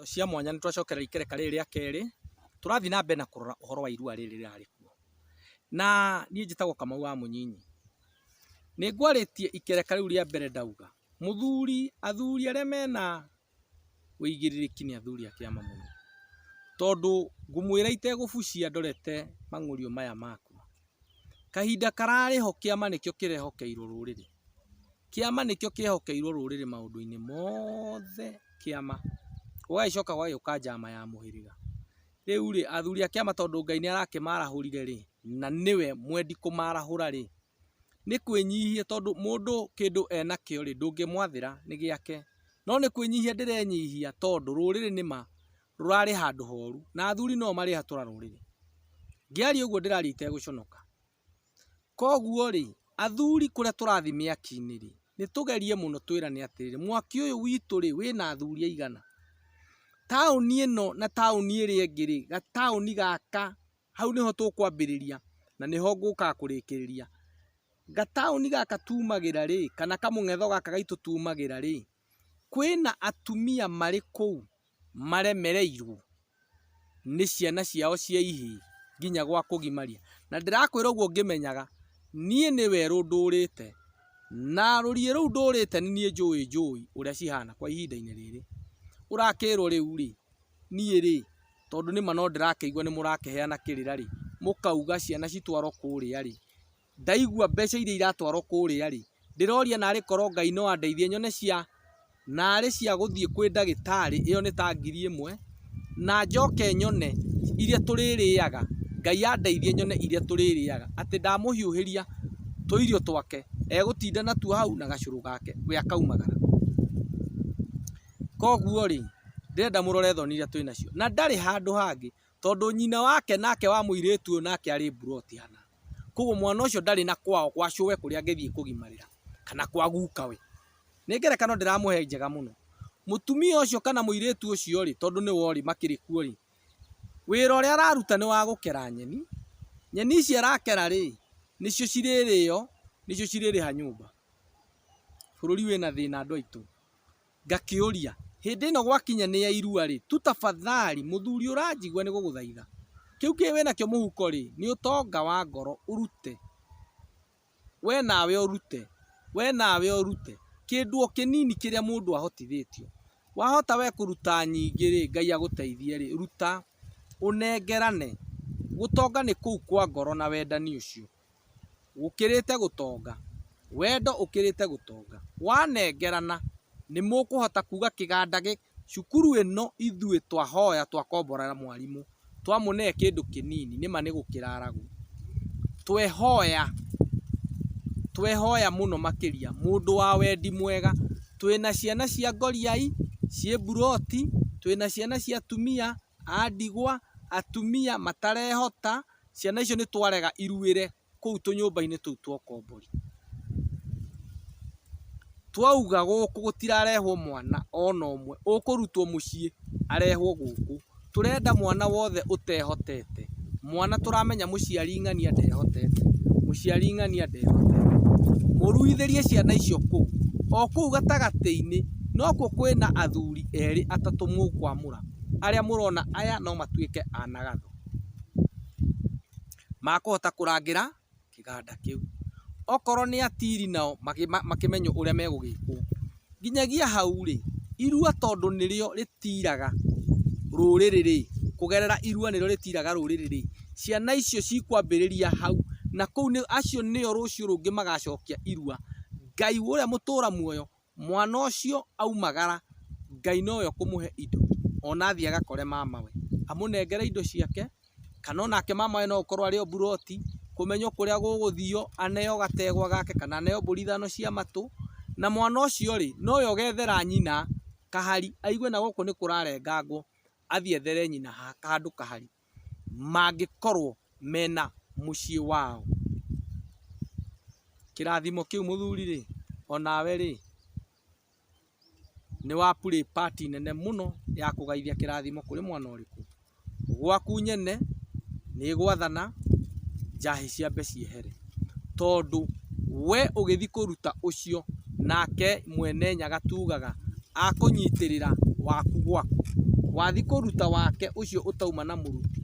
cia mwanya nĩ twacokereria ikereka rĩrĩ rĩa kerĩ, tũrathiĩ na mbere na kũrora ũhoro wa irua rĩrĩ rĩrarĩ kuo. Na niĩ njĩtagwo Kamau wa Mũnyinyi. Nĩ ngwarĩtie ikereka rĩu rĩa mbere ndauga, mũthuri, athuri arĩa mena ũigĩrĩrĩki nĩ athuri a kĩama mũno. Tondũ ngũmwĩra itegũbucia ndorete mang'ũrĩo maya maku. Kahinda kararĩ ho kĩama nĩkĩo kĩrehokeirwo rũrĩrĩ. Kĩama nĩkĩo kĩehokeirwo rũrĩrĩ maũndũ-inĩ mothe kĩama. Gũgagĩcoka gũgagĩũka njama ya mũhĩrĩga. Rĩu rĩ, athuri a kĩama tondũ Ngai nĩ arakĩmarahũrire rĩ, na nĩwe mwendi kũmarahũra rĩ, nĩ kwĩnyihia tondũ mũndũ kĩndũ enakĩo rĩ, ndũngĩmwathĩra nĩ gĩake. No nĩ kwĩnyihia ndĩrenyihia tondũ rũrĩrĩ nĩ ma, rũrarĩ handũ horu na athuri no o marĩ hatũra rũrĩrĩ. Ngĩaria ũguo ndĩraria itegũconoka. Koguo rĩ, athuri kũrĩa tũrathiĩ mĩaki-inĩ rĩ, nĩ tũgerie mũno twĩrane atĩrĩrĩ, mwaki ũyũ witũ rĩ, wĩna athuri aigana? Taũni ĩno na taũni ĩrĩa ĩngĩ rĩ, gataũni gaka, hau nĩho tũkwambĩrĩria na nĩho ngũkaga kũrĩkĩrĩria. Gataũni gaka tumagĩra rĩ, kana kamũng'etho gaka gaitũ tumagĩra rĩ, kwĩna atumia marĩ kũu maremereirwo nĩ ciana ciao cia ihĩĩ nginya gwa kũgimaria. Na ndĩrakwĩra ũguo ngĩmenyaga, niĩ nĩ werũ ndũrĩte, na rũriĩ rũu ndũrĩte nĩ niĩ njũĩ njũĩ ũrĩa cihana kwa ihinda-inĩ rĩrĩ. Ũrakĩrwo rĩu rĩ, niĩ rĩ, tondũ nĩ ma no ndĩrakĩigua nĩ mũrakĩheana kĩrĩra rĩ, mũkauga ciana citwarwo kũrĩa rĩ, Ndaigua mbeca iria iratwarwo kũrĩa rĩ, ndĩroria narĩ korwo Ngai no andeithie nyone cia, narĩ cia gũthiĩ kwĩ ndagĩtarĩ, ĩyo nĩ ta ngiri ĩmwe, na njoke nyone iria tũrĩrĩaga, Ngai andeithie nyone iria tũrĩrĩaga, atĩ ndamũhiũhĩria tũirio twake, egũtinda natuo hau na gacũrũ gake, we akaumagara. Koguo rĩ, ndĩrenda mũrore thoni iria twĩnacio. Na ndarĩ handũ hangĩ, tondũ nyina wake nake wa mũirĩtu ũyũ nake arĩ mburoti hana. Koguo mwana ũcio ndarĩ na kwao gwa cũwe kũrĩa angĩthiĩ kũgimarĩra kana kwa gukawe. Nĩ ngerekano ndĩramũhe njega mũno. Mũtumia ũcio kana mũirĩtu ũcio rĩ, tondũ nĩwe ũrĩ makĩrĩ kuo rĩ, wĩra ũrĩa araruta nĩ wa gũkera nyeni. Nyeni ici arakera rĩ, nĩcio cirĩrĩo, nĩcio cirĩrĩha nyũmba. Bũrũri wĩna thĩna andũ aitũ. Ngakĩũria, Hĩndĩ ĩno gwakinya nĩ ya irua-rĩ, tu tafathali, mũthuri ũranjigua nĩgũgũthaitha, kĩu kĩĩ wĩ nakĩo mũhuko-rĩ, nĩ ũtonga wa ngoro, ũrute, we nawe ũrute, we nawe ũrute, kĩndũ o kĩnini kĩrĩa mũndũ ahotithĩtio. Wahota we kũruta nyingĩ-rĩ, Ngai agũteithie-rĩ, ruta, ũnengerane, gũtonga nĩ kũu kwa ngoro na wendani ũcio. gũkĩrĩte gũtonga, wendo ũkĩrĩte gũtonga, wanengerana nĩ mũkũhota kuga kĩganda gĩ, cukuru ĩno ithuĩ twahoya twakomborera mwarimũ, twamũnehe kĩndũ kĩnini nĩ ma nĩ gũkĩraragwo, twehoya, twehoya mũno makĩria mũndũ wa wendi mwega, twĩna ciana cia ngoriai, ciĩ mburoti, twĩna ciana cia atumia a ndigwa, atumia matarehota, Ciana icio nĩ twarega iruĩre kũu tũnyũmba-inĩ tũu twa ũkombori. Twauga gũkũ gũtirarehwo mwana ona ũmwe ũkũrutwo mũciĩ arehwo gũkũ. Tũrenda mwana wothe ũtehotete. Mwana tũramenya mũciari ng'ania ndehotete, mũciari ng'ania ndehotete. Mũruithĩrie ciana icio kũu. O kũu gatagatĩ-inĩ nokuo kwĩna athuri erĩ atatũ mũkwamũra arĩa mũrona aya no matuĩke a na gatho. makũhota kũrangĩra kĩganda kĩu. Okorwo nĩ atiri nao makĩmenyo ũrĩa megũgĩkwo. Nginyagia hau rĩ, irua tondũ nĩrĩo rĩtiraga rũrĩrĩ rĩ, kũgerera irua nĩrĩo rĩtiraga rũrĩrĩ rĩ, ciana icio cikwambĩrĩria hau, na kũu acio nĩo rũciũ rũngĩ magacokia irua. Ngai ũrĩa mũtũra muoyo Mwana ũcio aumagara Ngai nowe ũkũmũhe indo ona athiĩ agakore mamawe amũnengere indo ciake kana onake mamawe no akorwo arĩ o mburoti kũmenywo kũrĩa gũgũthio aneo gategwa gake kana aneo mbũri ithano cia matũ na mwana ũcio rĩ nowe ũgethera nyina kahari aigue nagũkũ nĩkũrarengangwo athiĩ ethere nyina handũ kahari. mangĩkorwo mena mũciĩ wao. Kĩrathimo kĩu mũthuri rĩ, onawe rĩ, nĩ wa play part nene mũno ya kũgaithia kĩrathimo kũrĩ mwana ũrĩkũ. Gwaku nyene nĩ gwathana njahĩ ciambe ciehere. tondũ we ũgĩthi kũruta ũcio nake mwene nyaga tugaga akũnyitĩrĩra waku gwaku, wathi kũruta wake ũcio ũtauma na mũruti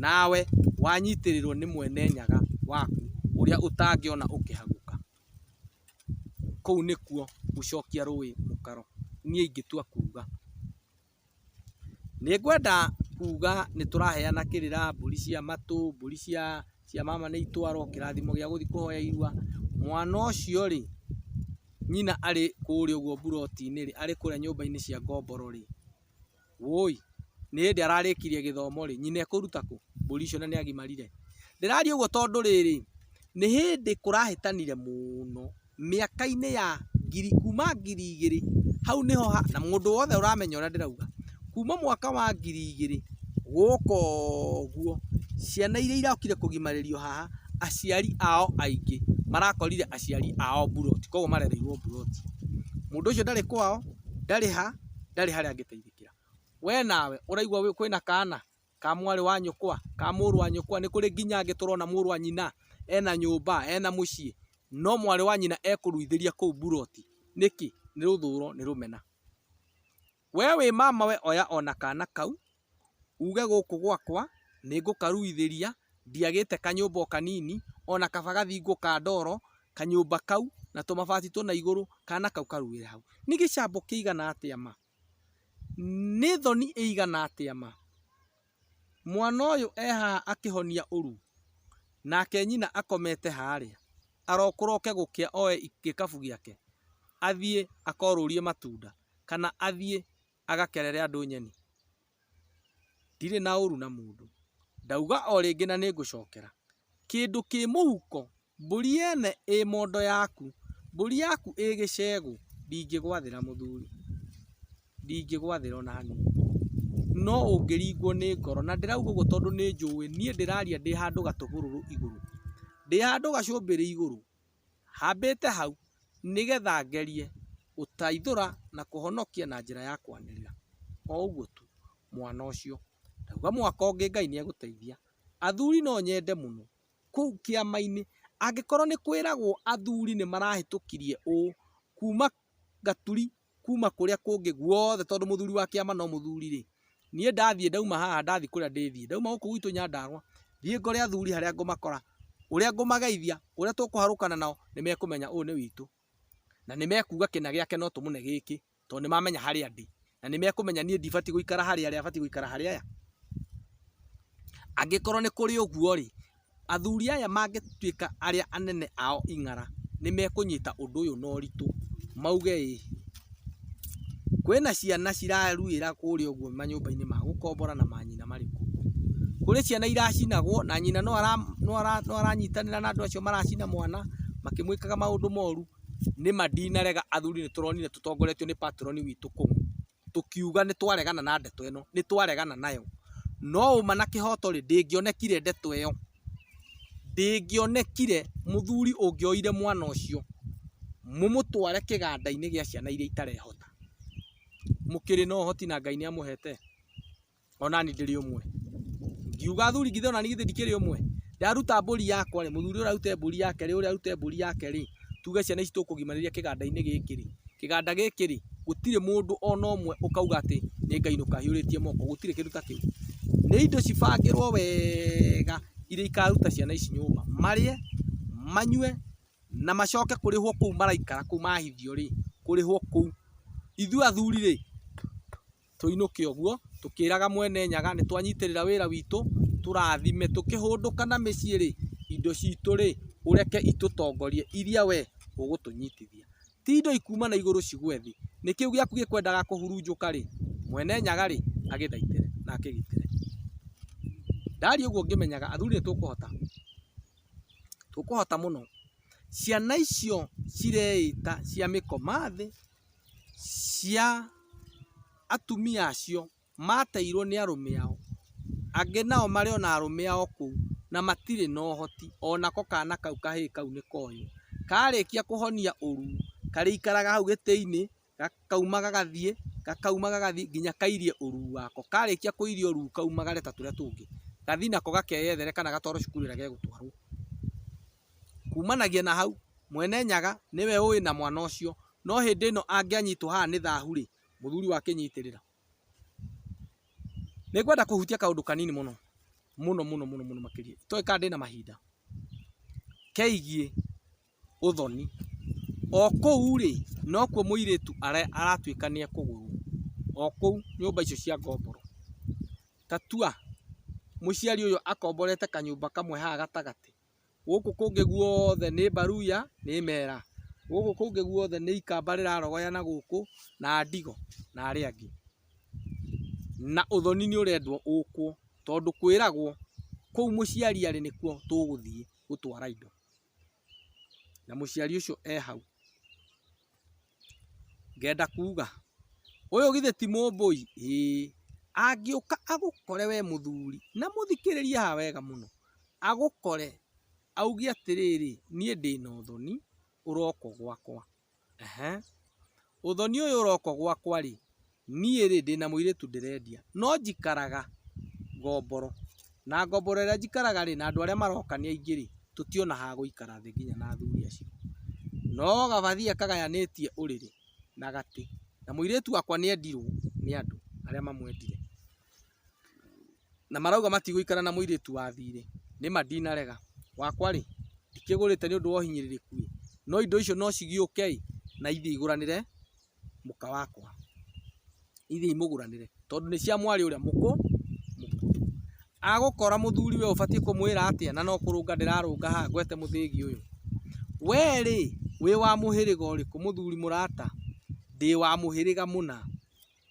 nawe wanyitĩrĩrwo nĩ mwene nyaga waku ũrĩa ũtangĩona ũkĩhagũka, kũu nĩkuo gũcokia rũĩ mũkaro niĩ ingĩtua kuga. Nĩngwenda kuuga nĩ tũraheana kĩrĩra, mbũri cia matũ, mbũri cia cia mama nĩ itwaro, kĩrathimo gĩa gũthiĩ kũhoya irua. Mwana ũcio rĩ, nyina arĩ kũũrĩa ũguo mburoti-inĩ rĩ, arĩ kũũrĩa nyũmba-inĩ cia ngomboro rĩ, wũi, nĩ hĩndĩ ararĩkirie gĩthomo rĩ, nyina ekũũruta kũ mbũri icio na nĩ agimarire? Ndĩraria ũguo tondũ rĩrĩ, Nĩ hĩndĩ kũrahĩtanire mũno mĩaka-inĩ ya ngiri kuma ngiri igĩrĩ hau nĩho ha na mũndũ wothe ũramenya ũrĩa ndĩrauga. Kuma mwaka wa ngiri igĩrĩ gũka ũguo, ciana iria irokire kũgimarĩrio haha, aciari ao aingĩ marakorire aciari ao mburoti, koguo marereirwo mburoti. Mũndũ ũcio ndarĩ kwao, ndarĩ ha, ndarĩ harĩa angĩteithĩkĩra. We nawe ũraigua kwĩna kana? ka mwarĩ wa nyũkwa, ka mũrũ wa nyũkwa, nĩ kũrĩ nginya angĩ tũrona mũrũ wa nyina ena nyũmba, ena mũciĩ, no mwarĩ wa nyina ekũruithĩria kũu mburoti. Nĩkĩ? Nĩ rũthũũro, nĩ rũmena. Wee wĩ mama we oya o na kana kau, uge gũkũ gwakwa nĩ ngũkaruithĩria, ndiagĩte kanyũmba o kanini, o na kaba gathingwo ka ndoro, kanyũmba kau, na tũmabati tũna igũrũ, kana kau karuĩre hau. Nĩ gĩcambo kĩigana atĩa ma! Nĩ thoni ĩigana atĩa ma! Mwana ũyũ e haha akĩhonia ũru, nake nyina akomete harĩa, arokũra oke gũkĩa oe gĩkabu gĩake athiĩ akorũrie matunda kana athiĩ agakerere andũ nyeni. Ndirĩ na ũru na mũndũ. Ndauga o rĩngĩ na nĩngũcokera. Kĩndũ kĩ mũhuko, mbũri yene ĩ mondo yaku, mbũri yaku ĩ gĩcegũ, ndingĩgwathĩra mũthuri. Ndingĩgwathĩra ona hanini. No ũngĩringwo nĩ ngoro, na ndĩrauga ũguo tondũ nĩnjũĩ, niĩ ndĩraria ndĩ handũ gatũhũrũrũ igũrũ. Ndĩ handũ gacũmbĩrĩ igũrũ. Hambĩte hau nĩgetha ngerie gũtaithũra na kũhonokia na njĩra ya kwanĩrĩra. O ũguo tu. Mwana ũcio. Ndauga mwaka ũngĩ Ngai nĩ egũteithia. Athuri no nyende mũno. Kũu kĩama-inĩ. Angĩkorwo nĩ kwĩragwo athuri nĩ marahĩtũkirie ũũ. Kuuma gaturi kuma kũrĩa kũngĩ guothe tondũ mũthuri wa kĩama no mũthuri rĩ, niĩ ndathiĩ ndauma haha ndathiĩ kũrĩa ndĩthiĩ, ndauma gũkũ gwitũ Nyandarũa, thiĩ ngore athuri harĩa ngũmakora, ũrĩa ngũmageithia, ũrĩa tũkũharũkana nao, nĩ mekũmenya ũyũ nĩ witũ, na nĩ mekuga kĩna gĩake no tũmũne gĩkĩ, tondũ nĩ mamenya harĩa ndĩ, na nĩ mekũmenya niĩ ndibatiĩ gũikara harĩa arĩ abatiĩ gũikara harĩa arĩ. Angĩkorwo nĩ kũrĩ ũguo rĩ, Athuri aya mangĩtuĩka arĩa anene ao ing'ara nĩmekũnyita ũndũ ũyũ na ũritũ mauge ĩĩ. Kwĩna ciana ciraruĩra kũrĩa ũguo manyũmba-inĩ ma gũkombora na manyina marĩ kũu. Kũrĩ ciana iracinagwo na nyina no aranyitanĩra na andũ acio maracina mwana makĩmwĩkaga maũndũ moru. Nĩma ndinarega athuri nĩtũronire tũtongoretio nĩ patron witũ kũu. tũkiuga nĩ twaregana na ndeto ĩno, nĩ twaregana nayo. No ũma na kĩhoto rĩ, ndĩngĩonekire ndeto ĩyo, ndĩngĩonekire mũthuri ũngĩoire mwana ũcio mũmũtware kĩganda-inĩ gĩa ciana iria itarehota. Mũkĩrĩ na ũhoti na Ngai nĩ amũhete? onani ndĩrĩ ũmwe ngiuga athuri githĩ onani githĩ ndikĩrĩ ũmwe ndaruta mbũri yakwa rĩ mũthuri ũrĩa arute mbũri yake rĩ ũrĩa arute mbũri yake rĩ tuge ciana ici tũkũgimanĩria kĩganda-inĩ gĩkĩ rĩ kĩganda gĩkĩ rĩ gũtirĩ mũndũ ona ũmwe ũkauga atĩ nĩ Ngai nũkahiũrĩtie moko gũtirĩ kĩndũ ta kĩu nĩ indo cibangĩrwo wega iria ikaruta ciana ici nyũmba marĩe manyue na macoke kũrĩhwo kũu maraikara kũu mahithio rĩ kũrĩhwo kũu ithuĩ athuri rĩ tũinũke ũguo tũkĩraga Mwene Nyaga nĩ twanyitĩrĩra wĩra witũ, tũrathime. Tũkĩhũndũka na mĩciĩ rĩ, indo citũ rĩ, ũreke itũtongorie iria we ũgũtũnyitithia. Ti indo ikuuma na igũrũ cigwe thĩ, nĩ kĩu gĩaku gĩkwendaga kũhurunjũka rĩ, Mwene Nyaga rĩ, agĩthaitĩre na akĩgitĩre. Ndaaria ũguo ngĩmenyaga athuri nĩ tũkũhota, tũkũhota mũno. Ciana icio cireĩta cia mĩkoma thĩ. cia atumia acio mateirwo nĩ arũme ao, angĩ nao marĩ ona arũme ao kũu na matirĩ na ũhoti, onako kana kau kahĩĩ kau nĩ koywo. Karĩkia kũhonia ũru, karĩikaraga hau gĩtĩ-inĩ, gakauma gagathiĩ, gakauma gagathiĩ nginya kairie ũru wako. Karĩkia kũiria ũru kaumagare ta tũrĩa tũngĩ, gathiĩ nako gakeyethere kana gatwarwo cukuru ĩrĩa gegũtwarwo. Kumanagia na hau, Mwene Nyaga nĩwe ũĩ na mwana ũcio, no hĩndĩ ĩno angĩanyitwo haha nĩ thahu-rĩ, mũthuri wake nyitĩrĩra. Nĩngwenda kũhutia kaũndũ kanini mũno, mũno mũno mũno mũno makĩria, itoĩ kana ndĩna mahinda, keigiĩ ũthoni. O kũu-rĩ, nokuo mũirĩtu aratuĩka nĩekũgũrwo, o kũu nyũmba icio cia ngomboro. Ta tua mũciari ũyũ akomborete kanyũmba kamwe haha gatagatĩ. gũkũ kũngĩ guothe nĩ mbaruya, nĩ mera. Gũkũ kũngĩ guothe nĩ ikamba rĩrarogoya na gũkũ, na ndigo, na arĩa angĩ. Na ũthoni nĩ ũrendwo ũkwo, tondũ kwĩragwo kũu mũciari arĩ nĩkuo tũgũthiĩ gũtwara indo. Na mũciari ũcio e hau. Ngenda kuuga, ũyũ githĩ ti mũmbũi? Ĩĩ. Angĩũka agũkore wee mũthuri, na mũthikĩrĩrie haha wega mũno, agũkore auge atĩrĩrĩ, niĩ ndĩ na ũthoni ũroka gwakwa, ehe, ũthoni ũyũ ũroka gwakwa-rĩ, Niĩ-rĩ, ndĩ na mũirĩtu ndĩrendia, no njikaraga ngomboro, na ngomboro ĩrĩa njikaraga-rĩ, na andũ arĩa maroka nĩ aingĩ-rĩ, tũtiona ha gũikara thĩ nginya na athuri acio. No gabathia kagayanĩtie ũrĩrĩ na gatĩ, na mũirĩtu wakwa nĩ endirwo nĩ andũ arĩa mamwendire, na marauga matigũikara na mũirĩtu wa thiirĩ. Nĩ ma ndinarega. Wakwa-rĩ, ndikĩgũrĩte nĩ ũndũ wa ũhinyĩrĩrĩku-ĩ, no indo icio no cigĩũke-ĩ, na ithiĩ igũranĩre mũka wakwa, ithiĩi mũgũranĩre tondũ nĩ cia mwarĩ ũrĩa mũkũrũ. Agũkora mũthuri we ũbatiĩ kũmwĩra atĩa na no kũrũnga ndĩrarũnga haha ngwete mũthĩgi ũyũ? We rĩ, wĩ wa mũhĩrĩga ũrĩkũ? Mũthuri mũrata, ndĩ wa mũhĩrĩga mũna.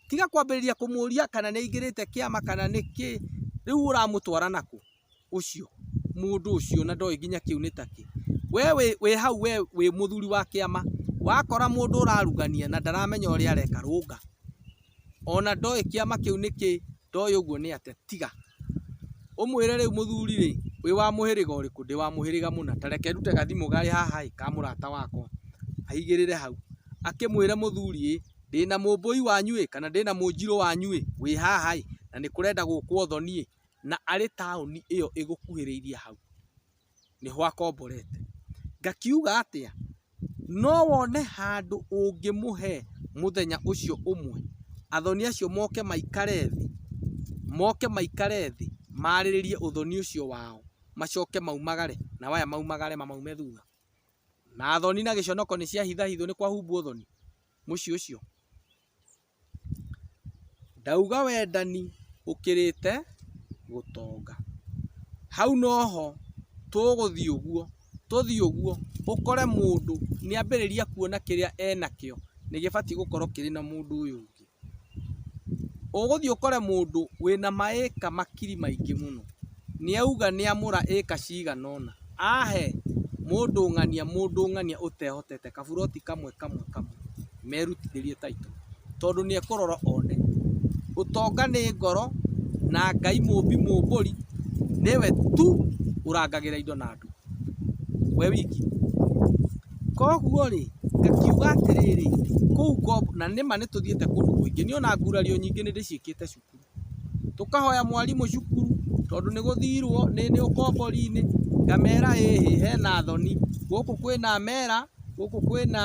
Tiga kwambĩrĩria kũmũria kana nĩ aingĩrĩte kĩama kana nĩkĩ, rĩu ũramũtwara nakũ? ũcio mũndũ ũcio na ndoĩ nginya kĩu nĩ takĩ. We wĩ hau we wĩ mũthuri wa kĩama wakora mũndũ ũrarugania na ndaramenya ũrĩa areka rũnga. Ona ndoĩ kĩama kĩu nĩ kĩ ndoĩ ũguo nĩ atĩa tiga. Ũmwĩre rĩu mũthuri rĩ wĩ wa mũhĩrĩga ũrĩkũ ndĩ wa mũhĩrĩga mũna ta reke ndute gathimũ karĩ haha ĩ ka mũrata wakwa. Aigĩrĩre hau akĩmwĩre mũthuri ĩ ndĩna mũmbũi wanyu ĩ kana ndĩna mũnjirũ wanyu ĩ wĩ haha ĩ na nĩ kũrenda gũkwo thoni ĩ na arĩ taũni ĩyo ĩgũkuhĩrĩirie hau, nĩho akomborete. Ngakiuga atĩa? No wone handũ ũngĩmũhe mũthenya ũcio ũmwe, athoni acio moke maikare thĩ, moke maikare thĩ, maarĩrĩrie ũthoni ũcio wao, macoke maumagare, nao aya maumagare mamaume thutha? Na thoni na gĩconoko nĩ ciahithahithwo nĩ kwahumbwo thoni, mũciĩ ũcio? Ndauga wendani ũkĩrĩte gũtonga. Hau noho tũgũthiĩ ũguo, tũthiĩ ũguo, ũkore mũndũ nĩambĩrĩria kuona kĩrĩa enakĩo nĩgĩbatiĩ gũkorwo kĩrĩ na mũndũ ũyũ ũngĩ. Ũgũthiĩ ũkore mũndũ wĩna ma acre makiri maingĩ mũno. Nĩauga nĩamũra ĩka ciganona. Ahe mũndũng'ania mũndũng'ania ũtehotete kaburoti kamwe kamwe kamwe merutithĩrie title tondũ nĩekũrora one. Ũtonga nĩ ngoro na Ngai mũmbi mũmbũri nĩwe tu ũrangagĩra indo na andũ we wiki. Koguo rĩ ngakiuga atĩrĩrĩ kũu Ngong na nĩma nĩtũthiĩte kũndũ kũingĩ nĩũna ngurario nyingĩ nĩndĩciĩkĩte cuku. Tũkahoya mwarimũ cukuru tondũ nĩ gũthirwo nĩ ũkombori-inĩ, ngamera ĩ hĩ hena thoni, gũkũ kwĩna mera, gũkũ kwĩna,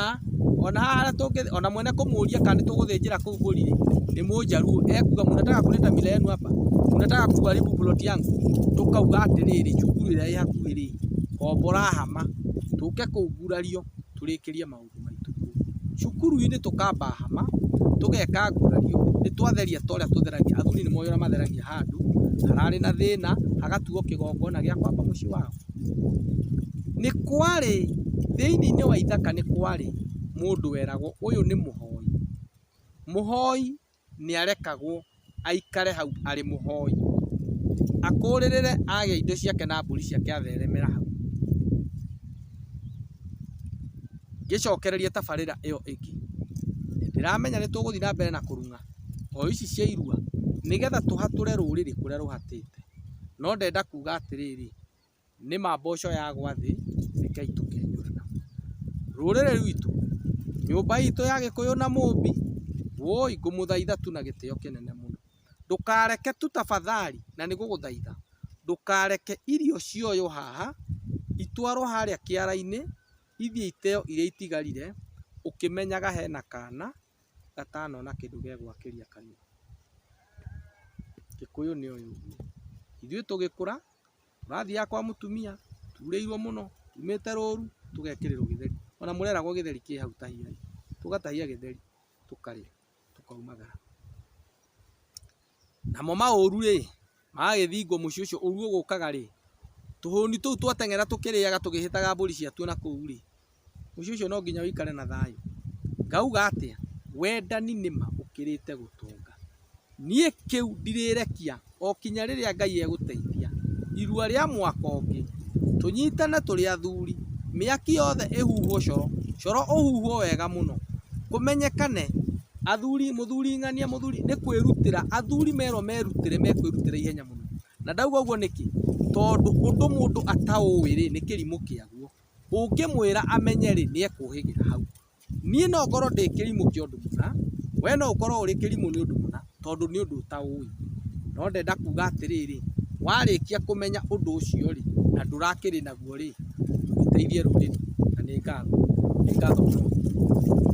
ona haha harĩa tũngĩ, ona mwene kũmũria kana nĩ tũgũthĩnjĩra kũu mbũri rĩ, nĩ mũjaluo, ekuga mnataka kuleta mila yenu hapa? Mnataka kuharibu plot yangu? Tũkauga atĩrĩrĩ cukuru ĩrĩa ĩ hakuhĩ rĩ, kombora hama, tũke kũu ngurario tũrĩkĩrie maũndũ. Cukuru-inĩ tũkamba hama, tũgeka gurario, nĩ twatheria ta ũrĩa tũtheragia, athuri nĩ moĩ ũrĩa matheragia handũ hararĩ na thĩna, hagatuo kĩgongona gĩa kwamba mũciĩ wao. Nĩ kwarĩ, thĩinĩ wa ithaka nĩ kwarĩ mũndũ weragwo ũyũ nĩ mũhoi. Mũhoi nĩarekagwo aikare hau arĩ mũhoi, akũrĩrĩre agĩa indo ciake na mbũri ciake atheremera hau. Ngĩcokereria tabarĩra ĩyo ĩngĩ, nĩndĩramenya nĩtũgũthiĩ na mbere na kũrung'a hoi ici cia irua nĩgetha tũhatũre rũrĩrĩ kũrĩa rũhatĩte, no ndenda kuga atĩrĩrĩ, Nĩma mboco yagwa thĩ, rekei tũkenyũre namo. Rũrĩrĩ rwitũ, nyũmba itũ ya gĩkũyũ na mũmbi, woi ngũmũthaitha tu na gĩtĩo kĩnene mũno, ndũkareke tu tafadhali na nĩ gũgũthaitha, ndũkareke irio cioywo haha, itwarwo harĩa kĩara-inĩ, ithiĩ iteyo iria itigarire, ũkĩmenyaga hena kana. gatano na kĩndũ gĩa gwakĩria kanua. Gĩkũyũ nĩ ũyũ ũguo. Ithuĩ tũgĩkũra, tũrathiaga kwa mũtumia, turĩirwo mũno, tumĩte rũru, tũgekĩrĩrwo gĩtheri. Ona mũreragwo gĩtheri kĩ hau tahiai. Tũgatahia gĩtheri, tũkarĩa, tũkaumagara. Namo maũũru-rĩ, magagĩthingwo mũciĩ ũcio ũũru ũgũũkaga-rĩ, tũhũũni tũu twateng'era tũkĩrĩaga tũgĩhĩtaga mbũri ciatuo na kũu-rĩ, mũciĩ ũcio no nginya ũikare na thayũ. Ngauga atĩa? Wendani nĩ ma ũkĩrĩte gũtonga. Niĩ kĩu ndirĩrekia o kinya rĩrĩa Ngai egũteithia. Irua rĩa mwaka ũngĩ, tũnyitane tũrĩ athuri, mĩaki yothe ĩhuhwo coro, coro ũhuhwo wega mũno, kũmenyekane Athuri, mũthuri ng'ania, mũthuri nĩ kwĩrutĩra, athuri merwo merutĩre mekwĩrutĩra ihenya mũno. Na ndauga ũguo nĩkĩ? Tondũ ũndũ mũndũ ataũĩ rĩ, nĩ kĩrimũ kĩaguo. Ũngĩmwĩra amenye rĩ, nĩ ekũhĩgĩra hau. Niĩ no ngorwo ndĩ kĩrimũ kĩa ũndũ mũna, we no ũkorwo ũrĩ kĩrimũ nĩ ũndũ mũna, tondũ nĩ ũndũ ũtaũĩ. No ndenda kuga atĩrĩrĩ, warĩkia kũmenya ũndũ ũcio rĩ, na ndũrakĩrĩ naguo rĩ, ũteithie rũrĩrĩ, na nĩ ngatho. Nĩ ngatho mũno.